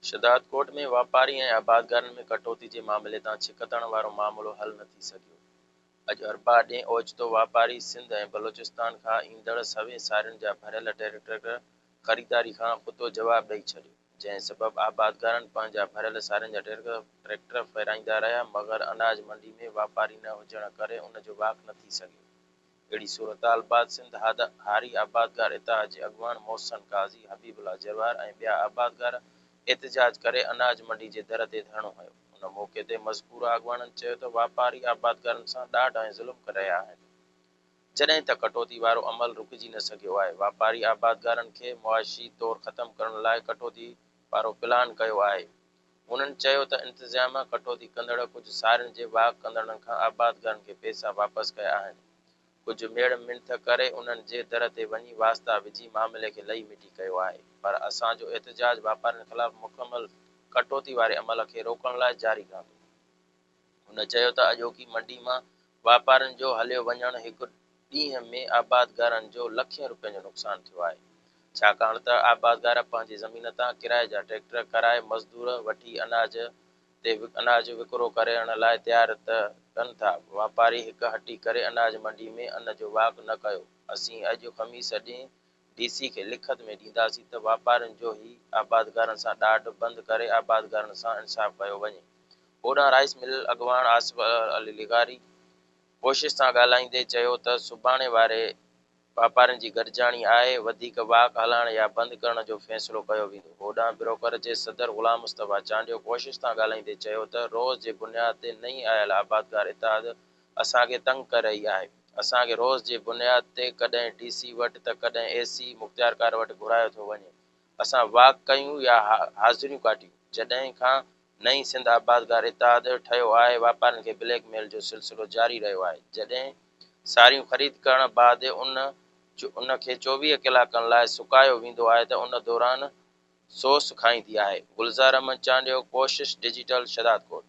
شھدادڪوٽ ۾ واپاري ۽ آبادگارن ۾ ڪٽوتي جي معاملي تان ڇڪتاڻ وارو معاملو حل نه ٿي سگھيو، اڄ اربع ڏينھن اوچتو واپاري سنڌ ۽ بلوچستان کان ايندڙ سوين سارين جا ڀريل ٽريڪٽر خريداري کان ڪتو جواب ڏئي ڇڏيو، جنھن سبب آبادگارن پنھنجا ڀريل سارين جا ٽريڪٽر ڦيرائيندا رھيا مگر اناج منڊي ۾ واپاري نه ھجڻ ڪري ان جو واڪ نه ٿي سگھيو. اهڙي صورتحال بعد سنڌ هاري آبادگار اتحاد جي اڳواڻ محسن قاضي، حبيب الله جروار ۽ ٻيا آبادگار احتجاج ڪري اناج منڊي جي در تي ڌرڻو هنيو. ان موقعي تي مذڪوره اڳواڻن چيو ته واپاري آبادگارن سان ڏاڍ ۽ ظلم ڪري رهيا آهن. جڏهن ته ڪٽوتي وارو عمل رڪجي نه سگهيو آهي. واپاري آبادگارن کي معاشي طور ختم ڪرڻ لاء ڪٽوتي وارو پلان ڪيو آهي. هنن چيو ته انتظاميا ڪٽوتي ڪندڙ ڪجهه سارين جي واهه ڪندڙن کان آبادگارن کي پئسا واپس ڪيا آهن، ڪجهه ميڙ منٿ ڪري انهن جي در تي وڃي واسطا وجهي معاملي کي لئي مٽي ڪيو آهي پر اسان جو احتجاج واپارين خلاف مڪمل ڪٽوتي واري عمل کي روڪڻ لاء جاري رهندو. هن چيو ته اڄوڪي منڊي مان واپارين جو هليو وڃڻ هڪ ڏينهن ۾ آبادگارن جو لکين روپين جو نقصان ٿيو آهي ڇاڪاڻ ته آبادگار پنهنجي زمين تان ڪرائي جا ٽريڪٽر ڪرائي مزدور وٺي اناج تي اناج وڪرو ڪرڻ لاء تيار ته ڪن ٿا واپاري هڪ هٽي ڪري اناج منڊي ۾ ان جو واڪ نه ڪيو اسين اڄ خميس ڏينهن ڊي سي کي لکت ۾ ڏينداسين ته واپارين جو هي آبادگارن سان ڏاڍ بند ڪري آبادگارن سان انصاف ڪيو وڃي. هوڏانهن رائيس مل اڳواڻ آصف علي لغاري ڪوشش سان ڳالهائيندي چيو ته سڀاڻي واري واپارين جي گڏجاڻي آهي، وڌيڪ واڪ هلائڻ يا بند ڪرڻ جو فيصلو ڪيو ويندو. هوڏانهن بروڪر جي صدر غلام مصطفيٰ چانڊيو ڪوشش سان ڳالهائيندي چيو ته روز جي بنياد تي نئين آيل آبادگار اتحاد اسان کي تنگ ڪري رهي آهي. اسان کي روز جي بنياد تي ڪڏهن ڊي سي وٽ ته ڪڏهن اي سي مختيارڪار وٽ گهرايو ٿو وڃي. اسان واڪ ڪيون يا حاضريون ڪاٽيون. جڏهن کان نئين سنڌ آبادگار اتحاد ٺهيو آهي واپارين کي بليڪ ميل جو سلسلو جاري رهيو آهي. جڏهن ساريون خريد ڪرڻ بعد ان ان کي چوويهه ڪلاڪن لاء سڪايو ويندو آهي ته ان دوران سوس کائيندي آهي. گلزار احمد چانڊيو ڪوشش ڊجيٽل شهدادڪوٽ.